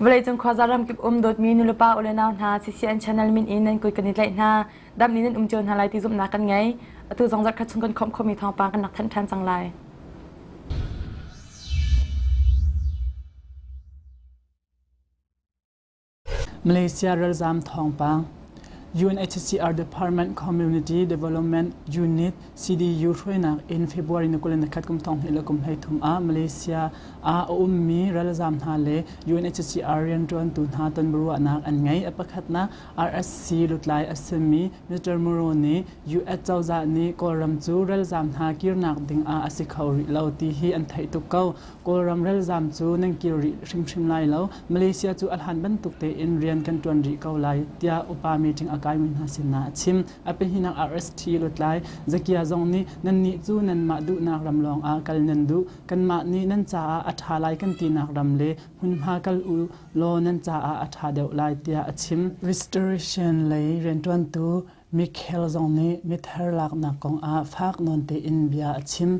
Vawleicung khuaza ramkip um dawtmi nulepa ule nau hna CCN channel min in nan kut kan i tlaih hna. Dam nih nan um cio hna lai ti zumhnak kan ngei. Atu zong zarhkhat chung kan khawmh khomi thawngpang kan rak thanh ṭhan cang lai. Malaysia ralzaam thawngpang UNHCR Department Community Development Unit CDU hruainak in February ni kul le nakhat kum thong hnih le kum hlei thum ah Malaysia ah a ummi ralzaam hna le UNHCR rianṭuantu hna tonbiaruahnak an ngei. A pakhatnak RSC lutlai a simi Mr. Moro nih US cozah nih Kawlram cu ralzaam hna kirnak ding ah a si kho rih lo ti hi an theih tuk ko. Kawlram ralzaam cu nan kir rih hrimhrim lai lo. Malaysia cu a hlan bantuk tein rian kan ṭuan rih ko lai, tiah upa meeting a kaimi hna sinah a chim. A pahninak RST lutlai Zakia zong nih Nannih cu nanmah duhnak ram lawngah kal nan duh. Kanmah nih nan caah a ṭha lai kan tinak ram le hmunhma kal u law nan caah a ṭha deuh lai, tiah a chim. Restoration lei rianṭuantu Michael zong nih mithar laknak kongah fak nawn tein bia a chim.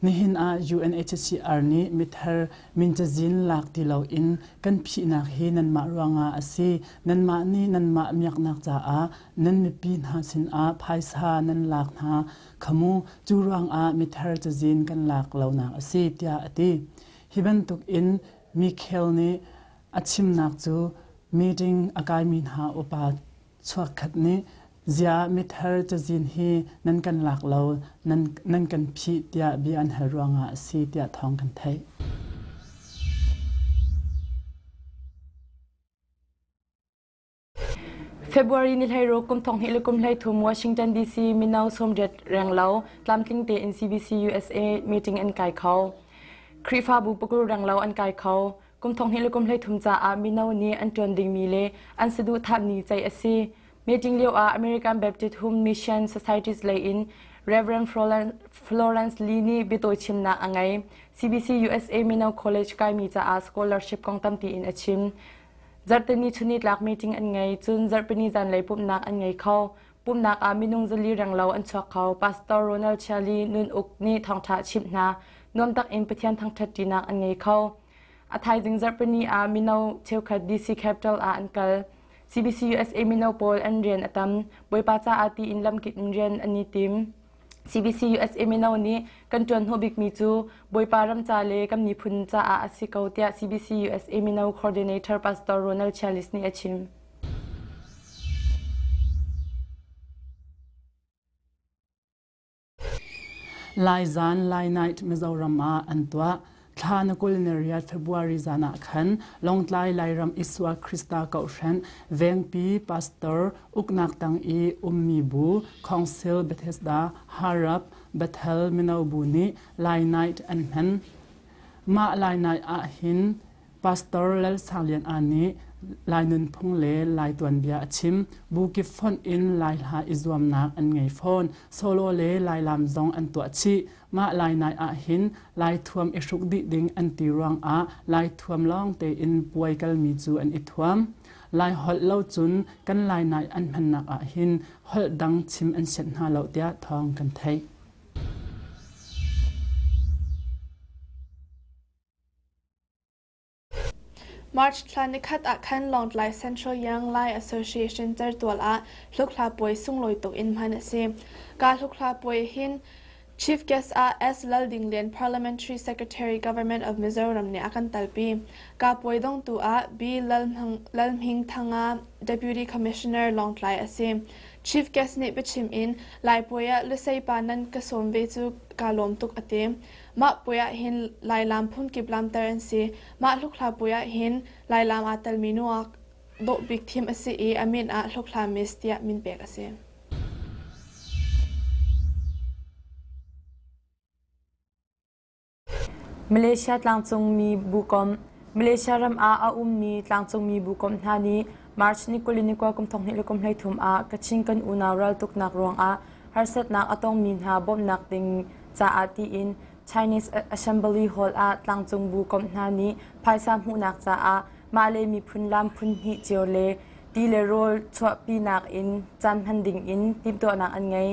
Nihin ah UNHCR nih mithar min cazin lak ti loin kan phihnak hi nanmah ruangah a si. Nanmah nih nanmah miaknak caah nan mipi hna sinah phaisa nan lak hna khamu cu ruangah mithar cazin kan lak lonak a si tiah a ti. Hi bantukin Michael nih a chimnak cu meeting a kaimi hna upa chuakkhat nih Zia mithar cazin hi nan kan lak lo, nan kan phih tiah bia an hal ruangah a si tiah thawng kan theih. February ni hlei ro kum thong hi lukum hlei thum Washington DC mino somriat renglo tlamtling te in CBC USA meeting an kai kho. Krifa bu pakul renglo an kai kho. Kum thong hnih le kum hleithum caah mino nih an ṭuan dingmi le an saduhthahmi ceih a si. Meeting lio ah American Baptist Home Mission Societies lei in Reverend Florence Lee nih biatawi chimnak a ngei. CBC USA Mino College kaimi caah scholarship kong tampi in a chim. Zarhteni chuni tlak meeting an ngei, cun zarhpini zanlei pumhnak an ngei kho. Pumnak ah minung zali renglo an chuak kho. Pastor Ronald Chiali Nun Uk nih thawngṭha a chimh hna. Nuam takin Pathian thangṭhatṭinak an ngei kho. A thaizing zarhpini ah mino cheukhat DC Capital ah an kal. CBC USA mino pawl an rian a tam. Bawipa caah ti in lamkip in rian an i tim. CBC-USA mino nih kan ṭuan hnawh bikmi cu Bawipa ramca le kan miphun caah a si ko tiah CBC-USA mino coordinator Pastor Ronald Chialis nih a chim. Lai zan, Lai night Mizoram ah an tuah. thla na kul na ria February zan ah khan Longtlai Lairam Isua Krista Kohhren Vengpi Pastor Uknak Tang i ummi bu Council Bethesda Harap Bethel Mino Bu nih Lai Night an hman mah Lai Night ah hin Pastor Lal Sang Lian A nih Lai nunphung le Lai tuanbia a chim bu kip font in Lai hla i zuamnak an ngei fawn solo le Lai lam zong an tuah chih Mah lainai ahhin Laithuam i hruk dih ding an ti ruangah Laithuam lawng tein puai kalmi cu an i thuam. Lai holh lo cun kan Lainai an hmannak ahhin holh dang chim an sianh hna lo tiah thawng kan theih. March thla nikhat ah khan Lawngtlai Central Young Lai Association Certual ah hlukhla puai sunglawi tuk in hman a si. Ka hlukhla puai hin Chief Guest ah S. Laldinglian Parliamentary Secretary Government of Mizoram nih a kan talpi. Ka puai dongtu ah B. Lalhmingthanga Deputy Commissioner Lawngtlai a si. Chief Guest nih biachim in Lai puai ah lusei pa nan ka sawm ve cu kaa lawm tuk a ti. Mah puai ah hin Lailaam phunkip laamter an si. Mah hlukhla puai ah hin Lailaam aa telmi nungak dawh bik thim a si i a min ah Hlukhla Miss tiah min pek a si. Malaysia tlangcungmi bukom Malaysia ram ah a ummi tlangcungmi bukom hna nih March ni kuli ni kwa kum thong hnih le kum hlei thum ah Kachin kan unau ral tuknak ruangah harsatnak a tongmi hna bawmhnak ding caah tiin Chinese Assembly Hall ah tlangcung bu komh hna nih phaisa hmuhnak caah mah le miphun lam phun hnih cio le ti le rawl chuahpinak in caan hman ding in timhtuahnak an ngei.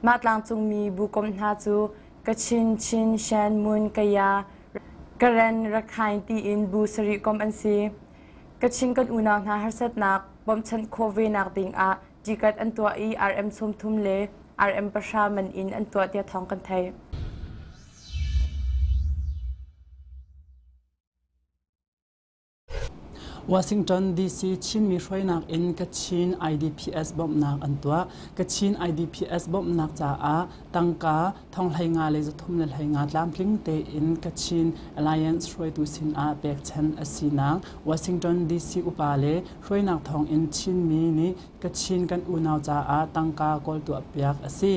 Mah tlangcungmi bu komh hna cu Kachin, Chin, Shan, Mun, Kaya, Karen, Rakhine tiin bu sarih komh an si. Kachin kan unau hna harsatnak bawmchanh khawh ve nak ding ah Ticket an tuah i RM sawmthum le RM pahra man in an tuah tiah thawng kan theih. Washington DC Chinmi hruainak in Kachin IDPS bawmhnak an tuah. Kachin IDPS bawmhnak caah tangka Thong hlei nga le zathum le hlei nga tlamtling tein Kachin Alliance hruaitu sinah pekchanh a sinak Washington DC upa le hruainak thawng in Chinmi nih Kachin kan unau caah tangka kawl tuahpiak a si.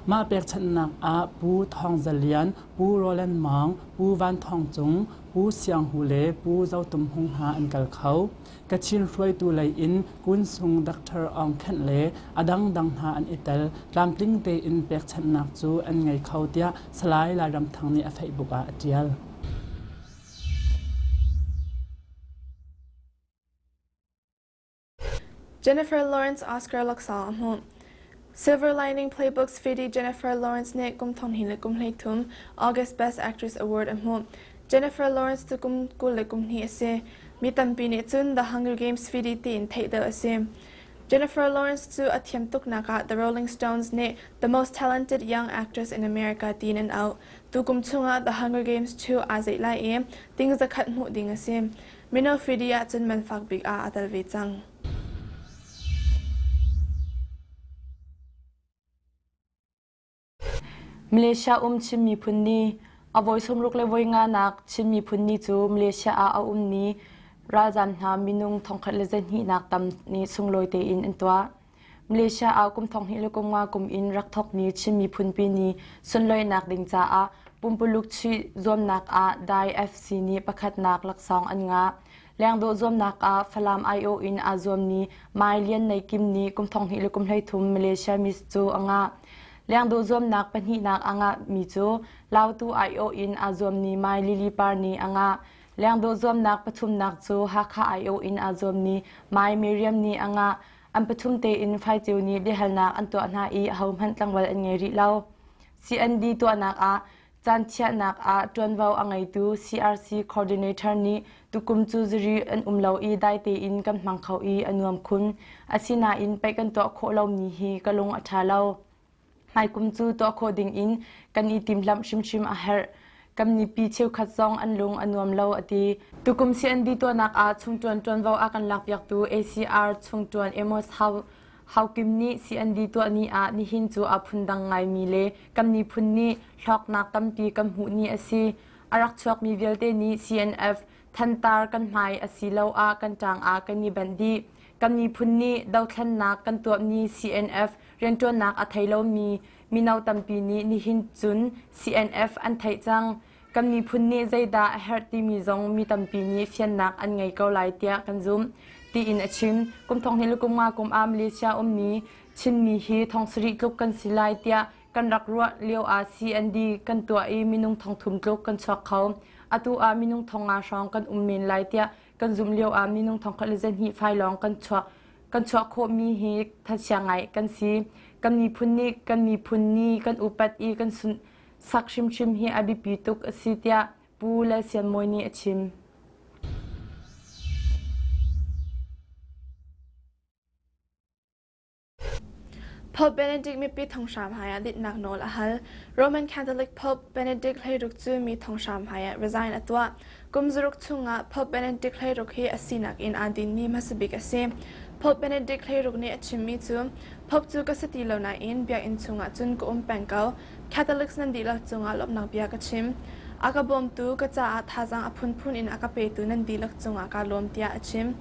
Mah pekchanhnak ah Pu Thawng Za Lian, Pu Roland Maung, Pu Van Thawng Cung, Pu Siang Hu le Pu Zo Tum Hung hna an kal kho. Kachin hruaitu lei in Kunsung Doctor Aung Khenh le a dangdang hna an i tel. Tlamtling tein pekchanhnak cu an ngei kho tiah Salai Lairam Thang nih a Facebook ah a ṭial. Jennifer Lawrence Oscar Laxalt a hmuh. Silver Lining Playbooks fidi Jennifer Lawrence nih kum thong hnih le kum hleithum August Best Actress Award a hmuh. Jennifer Lawrence cu kum kul le kum hnih a si. Mi tampi nih cun The Hunger Games fidi tiin theih deuh a si. Jennifer Lawrence cu a thiam tuknak ah The Rolling Stones nih The Most Talented Young Actress in America tiin an auh. Tu kum chungah The Hunger Games cu aa zeih lai i ting zakhat hmuh ding a si. Mino fidi ah cun man fak bik ah a tel ve cang. Malaysia um Chin miphun ni a voi sawmruk le voi nganak Chin miphun ni cu Malaysia ah a ummi ralzaam hna minung thongkhat le zehnihnak tam nih sunglawi tein an tuah. Malaysia ah kum thonghnih le kum nga kum in rak thokmi Chin miphunpi ni sunloinak ding caah pumpuluk chuih zuamnak ah Dai FC nih pakhatnak laksawng an ngah. Lengdawh zuamnak ah Falam aiawh in aa zuammi Mai Lian Nei Kim nih kum thong hnih le kum hleithum Malaysia Miss cu a ngah. Lengdawh zuamnak pahnihnak a ngahmi cu Lautu aiawh in aa zuammi Mai Lili Par nih a ngah. Lengdawh zuamnak pathumnak cu Hakha aiawh in aa zuammi Mai Miriam nih a ngah. An pathum tein faiceu nih biahalnak an tuah hna i ahohmanh tlangwal an ngei rih lo. CND tuahnak ah Caanchiahnak ah ṭuanvo a ngeitu CRC coordinator nih tukum cu zari an um lo i dai tein kan hmang kho i a nuam khun. Asinain pei kan tuah khawh lomi hi ka lung a ṭha lo. Hmaikum cu tuah khawh ding in kan i timhlamh hrimhrim a herh. Kan mipi cheukhat zong an lung a nuam lo a ti. Tukum CND tuahnak ah chung ṭuan ṭuanvo a kan lakpiaktu ACR chung ṭuan Amos House Haukim nih CNV tuahmi ah nihin cu aa phundang ngaimi le kan miphun nih hlawknak tampi kan hmuh ni a si. A rak chuakmi vialte nih CNF thantar kan hmai asiloah kan ṭang ah kan i benh dih. Kan miphun nih dothlennak kan tuahmi CNF rianṭuannak a thei lomi mino tampi nih nihin cun CNF an theih cang. kan miphun nih zeidah a herh timi zong mi tampi nih fiannak an ngei ko lai tiah kan zumh, tiin a chim. Kum thonghnih le kum nga kum ah Malaysia ummi Chinmi hi thong sarih tluk kan si lai tiah kan rak ruah lio ah CND kan tuah i minung thong thum tluk kan chuak kho. Atu ah minung thong nga hrawng kan um men lai tiah kan zumh lio ah minung thong khat le zahnih fai lawng kan chuak kan chuak khawhmi hi thachiang ngai kan si. Kan miphun nih kan miphun ni kan upat i kan sunh Sak hrimhrim hi a biapi tuk a si tiah Pu Le Sian Mawi nih a chim. Pope Benedict mipi thonghram haiah dinhnak nawl a hal. Roman Catholic Pope Benedict hlei ruk cu mi thonghram haiah resign a tuah. Kum zaruk chungah Pope Benedict hleiruk hi a sinak in aa dinmi hmasabik a si. Pope Benedict hleiruk nih a chimmi cu Pope cu ka si ti lo nain biakinn chungah cun ka um peng ko. Catholics nan dihlak cungah lawmhnak bia ka chim. A ka bawmtu, ka caah thazaang a phunphun in a ka petu nan dihlak cungah kaa lawm tiah a chim.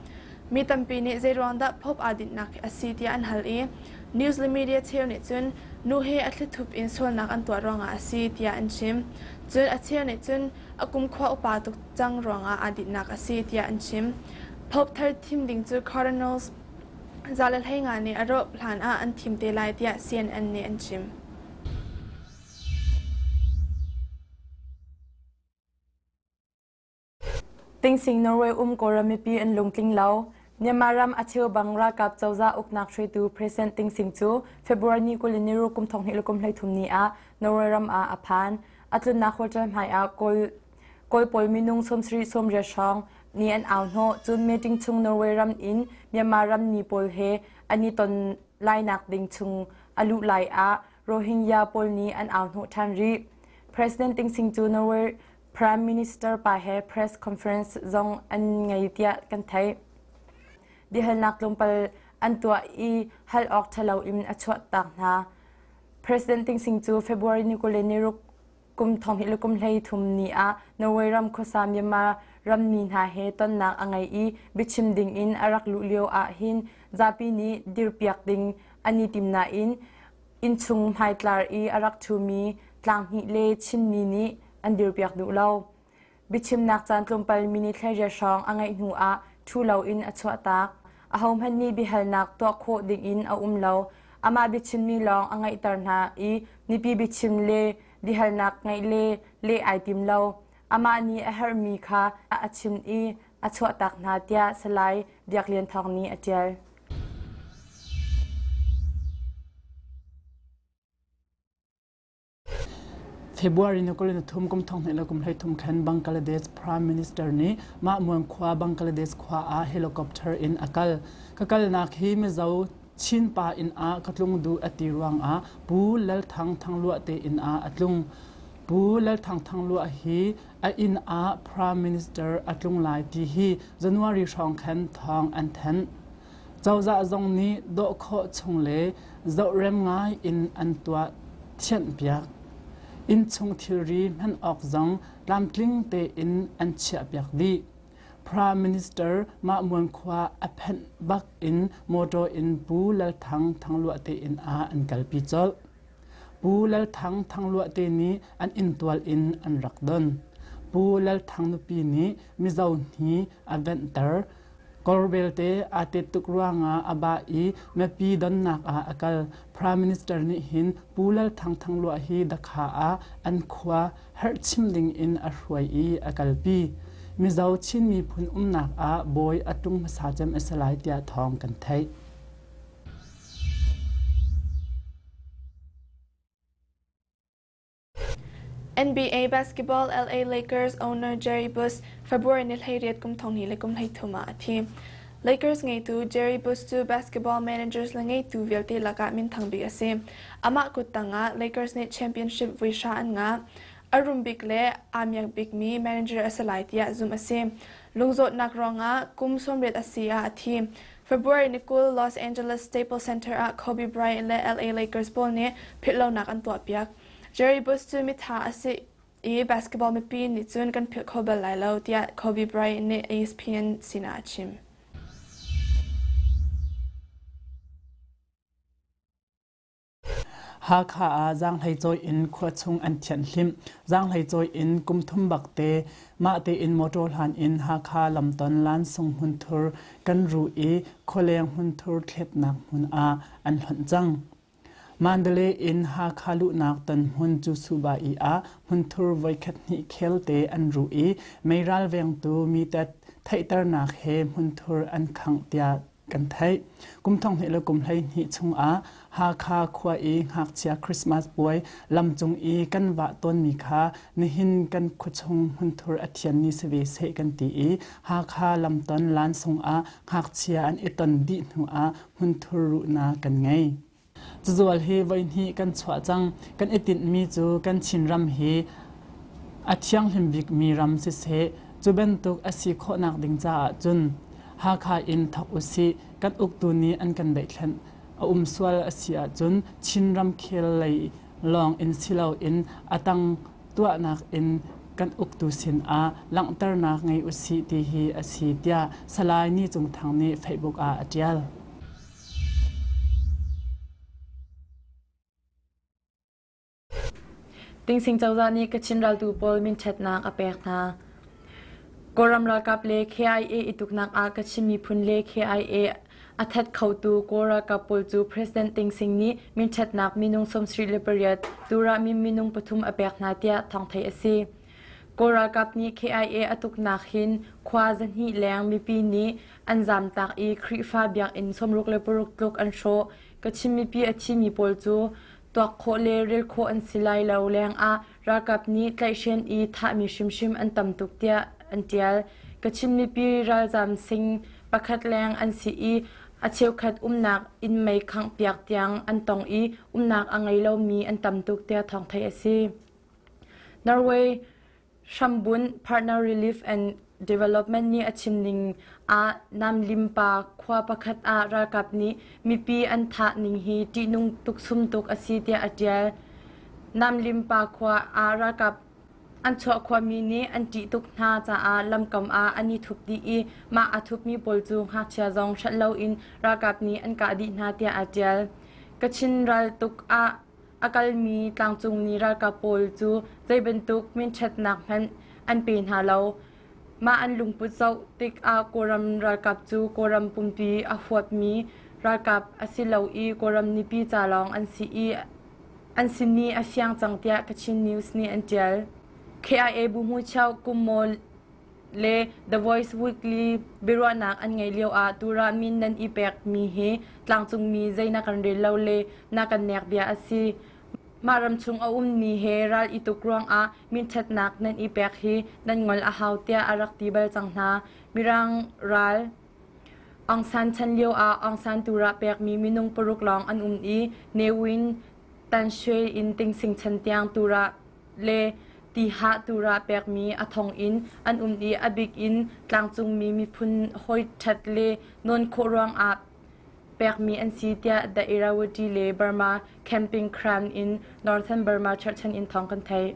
Mi tampi nih zeiruang dah Pope aa dinhnak hi a si tiah an hal i news le media cheu nih cun nu he a thlithup in sualnak an tuah ruangah a si tiah an chim. Cun a cheu nih cun a kumkhua upa tuk cang ruangah aa dinhnak a si tiah an chim. Pope thar thim ding cu cardinals za le hlei nga nih a rawp hlan ah an thim te lai tiah CNN nih an chim. Tingsing Norway um Kawlram mipi an lungtling lo. Myanmar ram a cheu bang ralkap cozah uknak hruaitu President Tingsing cu February ni kul in niru kum thong hnih le kum hlei thum ni ah Norway ram ah a phan. a tlunnak hotel hmai ah kawl kawl pawl minung sawmsarih sawmriat hrawng ni an au hnawh cun meeting chung Norway ram in Myanmar ram ni pawl he an i ton lainak ding chung a luh lai ah Rohingya pawl nih an au hnawh ṭhan rih President Ting Sing cu Norway Prime Minister pa he press conference zong an ngei tiah kan theih biahalnak tlawmpal an tuah i hal awk ṭhalo in a chuah tak hna President Ting Sing cu February ni kule ni ruk kum thong hi lukum hlei thum ni ah Norway ram khuasa Myanmar ram mi hna he tonnak a ngei i biachim ding in a rak luh lio ah hin zapi nih dirpiak ding an i tim nain innchung hmaitlar i a rak ṭhumi tlang hnih le chinmi nih an dirpiak duh lo. Biachimnak caan tlawmpalmi ni thleiriat hrawng a ngeih hnu ah ṭhu loin a chuahtak. Ahohmanh nih biahalnak tuah khawh dingin a um lo. Amah biachimmi lawng a ngeihter hna i nipi biachim le biahalnak ngeih le leh ai tim lo. Amah nih a herhmi kha a chim i a chuahtak hna tiah Salai Biak Lian Thawng nih a ṭial. February ni kul in thum kum thong hnai le kum hleithum khen Bangladesh Prime Minister nih mah muang khua Bangladesh khua ah helicopter in a kal. Ka kalnak hi Mizo Chinpa inn ah ka tlung duh a ti ruang ah Pu Lal Thang Thangluah te inn ah a tlung. Pu Lal Thang Thangluah hi a inn ah Prime Minister a tlung lai ti hi January hrawng khan thawng an thanh. Cozah zong nih dawh khawh chung le zohrem ngai in an tuah thianhpiak. Innchung thilri hman awk zong tlamtling tein an chiahpiak dih. Prime Minister Mahmuan khua a phanh bak in motor in Pu Lal Thang thangluah tein ah an kalpi colh. Pu Lal Thang thangluahte nih an inntual in an rak don. Pu Lal Thang nupi nih mizo hni a venhter. Kor belte aa tet tuk ruangah a bah i miapi donnak ah a kal. Prime Minister nih hin Pu Lal Thang thangluah hi dakha ah an khua herhchim ding in a hruai i a kalpi. Mizo Chin miphun umnak ah bawi a ṭung hmasa cem a si lai tiah thawng kan theih. NBA basketball LA Lakers owner Jerry Buss February ni hleiriat kum thong ni le kum hleithum ah a thi. Lakers ngeitu Jerry Buss cu basketball managers le ngeitu vialte lakah minthang bik a si. Amah kuttang ah Lakers nih championship vuihra an ngah. A rum bik le aa miak bikmi manager a si lai tiah zumh a si. Lungzawtnak ruangah kum sawmriat a si ah a thi. February ni kul Los Angeles Staples Center ah Kobe Bryant le LA Lakers pawl nih philhlonak an tuahpiak. Jerry Bush cu mitha a si i basketball mipi nih cun kan philh kho bal lai lo tiah Kobe Bryant nih ESPN sinah a chim. Hakha ah zaanghlei cawi in khua chung an thianhhlimh. Zaanghlei cawi in kum thum bak te mah tein mawṭaw hlan in Hakha lamton lansung hmunthur kan ruh i khualeng hmunthur thletnak hmun ah an hlonh cang. Mandalay in Hakha luhnak tonhmun Cusuba-i ah hmunthur voikhat hnih khelte an ruh i mei ralvengtu mitat theihternak he hmunthur an khangh tiah kan theih. Kum thong hnih le kum hleihnih chungah Hakha khua i ngakchia Christmas puai lam cung i kan vah tawnmi kha nihin kan khuachung hmunthur a thianmi si ve seh kan ti i Hakha lamton lansung ah ngakchia an i ton dih hnuah hmunthur ruhnak kan ngei. Cazual hi voihnih kan chuah cang. Kan i tinhmi cu kan Chinram hi a thianghlim bikmi ram siseh, cu bantuk a si khawhnak ding caah cun Hakha in thawk usih. Kan uktu nih an kan daihthlenh. A um sual a si ahcun Chin ramkhel lei lawng in si loin a tang tuahnak in kan uktu sinah langhternak ngei usih ti hi a si, tiah Salai Ni Cung Thang nih Facebook ah a ṭial. Tingsing cozah nih Kachin raltu pawl minṭhatnak a pek hna. Kawlram ralkap le KIA ituknak ah Kachin miphun le KIA a that khotu Kawl ralkap pawl cu President Ting Sing nih minṭhatnak minung sawmsarih le pariat Turamin minung pathum a pek hna tiah thawngthei a si. Kawl ralkap nih KIA a tuknak hin khua zahnih leng mipi nih An zamtak i Khrihfa biakinn sawmruk le paruk tluk an hrawh. Ka chim mipi a thimi pawl cu tuak khawh le rel khawh an si lai lo lengah ralkap nih tlaihhren i thahmi hrimhrim an tam tuk tiah an ṭial. Ka chim mipi ralzam sing pakhat leng an si i a cheukhat umnak inn mei khanghpiak tiang an tong i umnak a ngei lomi an tam tuk tiah thawng theih a si. Norway Hrambunh Partner Relief and Development nih a chim ning ah Namlimpa khua pakhat ah ralkap nih mipi an thah ning hi ṭihnung tuk sum tuk a si tiah a ṭial. Namlimpa khua ah ralkap an chuah khuami nih an ṭih tuk hna caah lamkam ah an i thup dih i mah a thupmi pawl cu ngakchia zong hrelh loin ralkap nih an kah dih hna tiah aa ṭial. Kachin ral tuk ah A kalmi tlangcungmi ralkap pawl cu zeibantuk minṭhatnak hmanh an pe hna lo. Mah an lungput zoh tikah Kawlram ralkap cu Kawlram pumpi a huapmi ralkap a si lo i Kawlram mipi ca lawng an si i an simi a siang cang tiah Kachin News nih an ṭial. KIA bu hmucheu kum maw le The Voice Weekly biaruahnak an ngeih lioah Turah min nan i pekmi hi tlangcungmi zei na kan rel lo le na kan nek bia a si. Mah ramchung a ummi he ral i tuk ruangah minṭhatnak nan i pek hi nan ngol a hau tiah a rak ti bal cang hna. Mirang ral Aung San chan lioah Aung San Turah pekmi minung paruk lawng an um i Newin Tanshe in Tingsing chan tiang Turah le tihah tur ah pekmi a thong in an um i a bik in tlangcungmi miphun hawi ṭhat le nawn khawh ruangah pekmi an si tiah The Irrawaddy le Burma Camping Crown in Northern Burma Church an in thawng kan theih.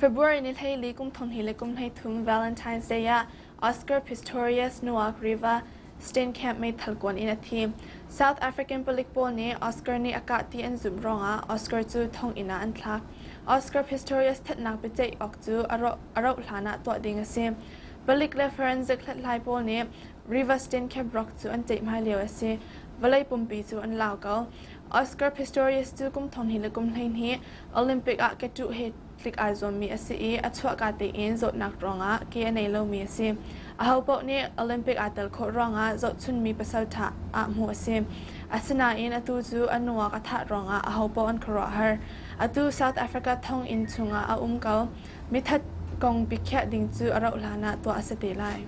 February ni hleili kumthum hi le kumhleithum Valentine's Day ah Oscar Pistorius nungak Riva Steenkamp meithal kuan in a thi. South African palik pawl nih Oscar nih a kah ti an zumh ruangah Oscar cu thonginn ah an thlak. Oscar Pistorius thatnak biaceih awk cu a rauh hlan ah tuah ding a si. Palik le forensic hlathlai pawl nih Riva Steenkamp rawk cu an ceih hmai lio a si. Vawlei pumpi cu an lau ko. Oscar Pistorius cu kum thong hnih le kum hleihnih Olympic ah ke ṭuh he tlik aa zuammi a si i a chuahka tein zawtnak ruangah ke a nei lomi a si. Ahopaoh nih Olympic aa tel khawh ruangah zohchunhmi pasal ṭha ah hmuh a si. Asinain atu cu a nungak a thah ruangah ahopaoh an khuaruahhar. Atu South Africa thonginn chungah a um ko. Mithat kong biakhiah ding cu a rauh hlanah tuah a si te lai.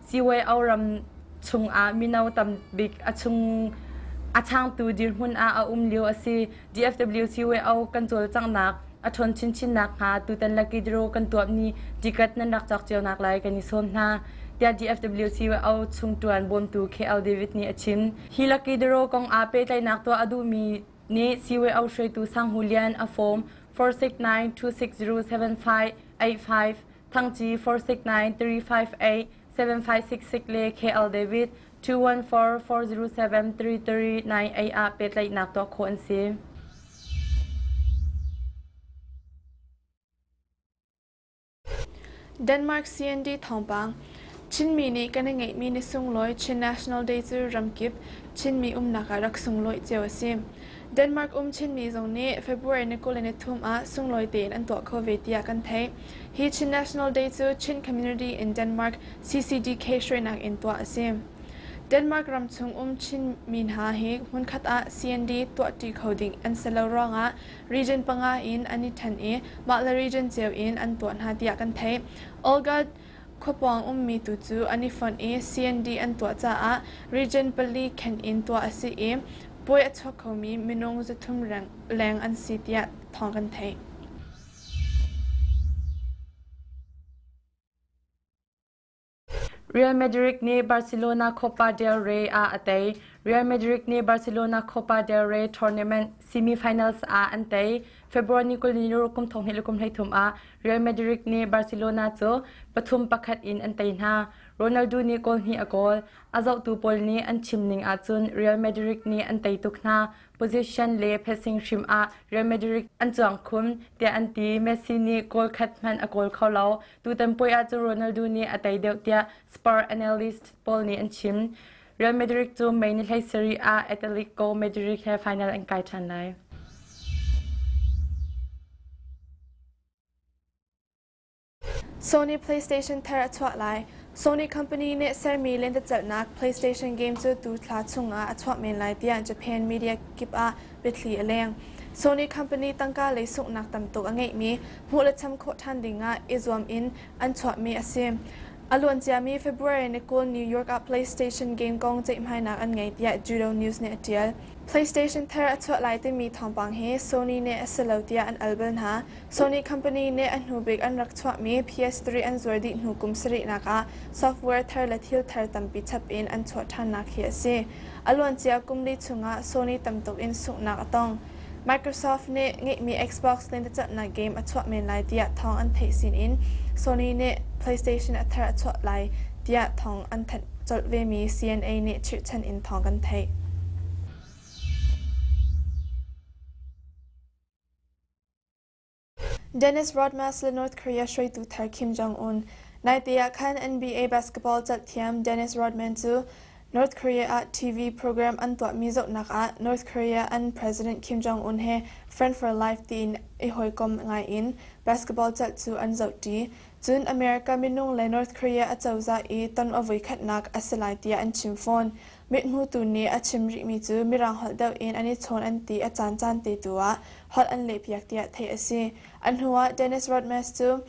Ciweo ram chungah mino tam bik a chung a changtu dirhmun ah a um lio a si. DFW CWO kan cawlcanghnak a ṭhawn chinchinnak hnga tutan laki diro kan tuap ni ticket nan rak cak cionak lai kan i sawm hna. Tia DFW CWO chung ṭuan bawmtu KL David nih a chim. Hi laki diro kong a pehtlaihnak tuah a duhmi nih CWO hruaitu Sang Hu Lian a form 469260758 thangci 469-358, 7566 le KL David 214-407-339A ah pehtlaihnak tuah khawh an si. Denmark CND thawngpang Chinmi nih kan i ngeihmi ni sunglawi Chin National Day cu ramkip Chinmi umnak ah rak sunglawi cio a si. Denmark um Chinmi zong nih February ni kul le nithum ah sunglawi tein an tuah kho ve tiah kan theih. Hi Chin National Day cu Chin Community in Denmark CCDK hruainak in tuah a si. Denmark ram chung um Chinmi hna hi hmunkhat ah CND tuahṭi kho ding an si lo ruangah region panga in an i ṭhen i mah le region cio in an tuah hna tiah kan theih. Olga Khuapawng ummi tu cu an i fonh i CND an tuah caah region pali khenh in tuah a si i puai a chuak khomi minung zathum leng an si tiah thawng kan theih. Real Madrid nih Barcelona Copa del Rey ah a tei. Real Madrid nih Barcelona Copa del Rey tournament semi-finals ah an tei. February ni kul ni kum thong hnih le kum hleithum ah Real Madrid nih Barcelona cu pathum pakhat in an tei hna. Ronaldo nih goal hnih a goal. A zohtu pawl nih an chim ning ahcun Real Madrid nih an tei tuk hna. Position le passing hrim ah Real Madrid an cuang khun tiah an ti. Messi nih goal khat hmanh a goal kho lo. Tutan puai ah cu Ronaldo nih a tei deuh tiah Spur analyst pawl nih an chim. Real Madrid cu May ni hlei seri ah Atletico Madrid he final an kai ṭhan lai. Sony PlayStation thar a chuah lai. Sony company nih sermi lentecelhnak PlayStation game cu tu thla chungah a chuah men lai tiah Japan media kip ah biathli a leng. Sony company tangka lei sunghnak tam tuk a ngeihmi hmuh le cham khawh ṭhan dingah i zuam in an chuahmi a si. A luanciami February ni kul New York ah PlayStation game kong ceihmainak an ngei tiah Judo News nih a ṭial. PlayStation thar a chuah lai timi thawngpang hi Sony nih a si lo tiah an al bal hna. Sony company nih a hnubik an rak chuahmi PS3 an zuar dih hnu kum sarihnak ah software thar le thil thar tampi chap in an chuah ṭhannak hi a si. A luancia kum li chungah Sony tamtuk in sunghnak a tong. Microsoft nih ngeihmi Xbox lentecelhnak game a chuah men lai tiah thawng an theih sinin Sony nih PlayStation a thar a chuah lai tiah thawng an thanh. Colh vemi CNA nih chirhchan in thawng kan theih. Dennis Rodmas le North Korea hruaitu thar Kim Jong-un. Naite ah khan NBA basketball calthiam Dennis Rodman cu North Korea ah TV program an tuahmi zohnak ah North Korea an president Kim Jong-un he friend for life tiin i hawikom ngai in basketball calh cu an zohṭi. Cun America minung le North Korea a cozah i ton a voikhatnak a si lai tiah an chim fawn. Mithmutu nih a chim rihmi cu Mirang holh deuh in an i chawn an ti a caancaan te tu ah holh an lehpiak tiah theih a si. A hnuah Dennis Rodmas cu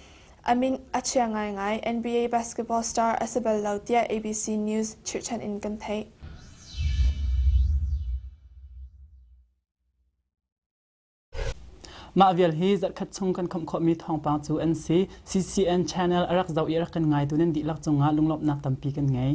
a min a chia ngaingai NBA basketball star a si bal lo tiah ABC News chirhchan in kan theih. Mah vial hi zarhkhat chung kan khawmh khawhmi thawngpang cu an si. CCN channel a rak zoh i a rak kan ngaitu nan dihlak cungah lunglawmhnak tampi kan ngei.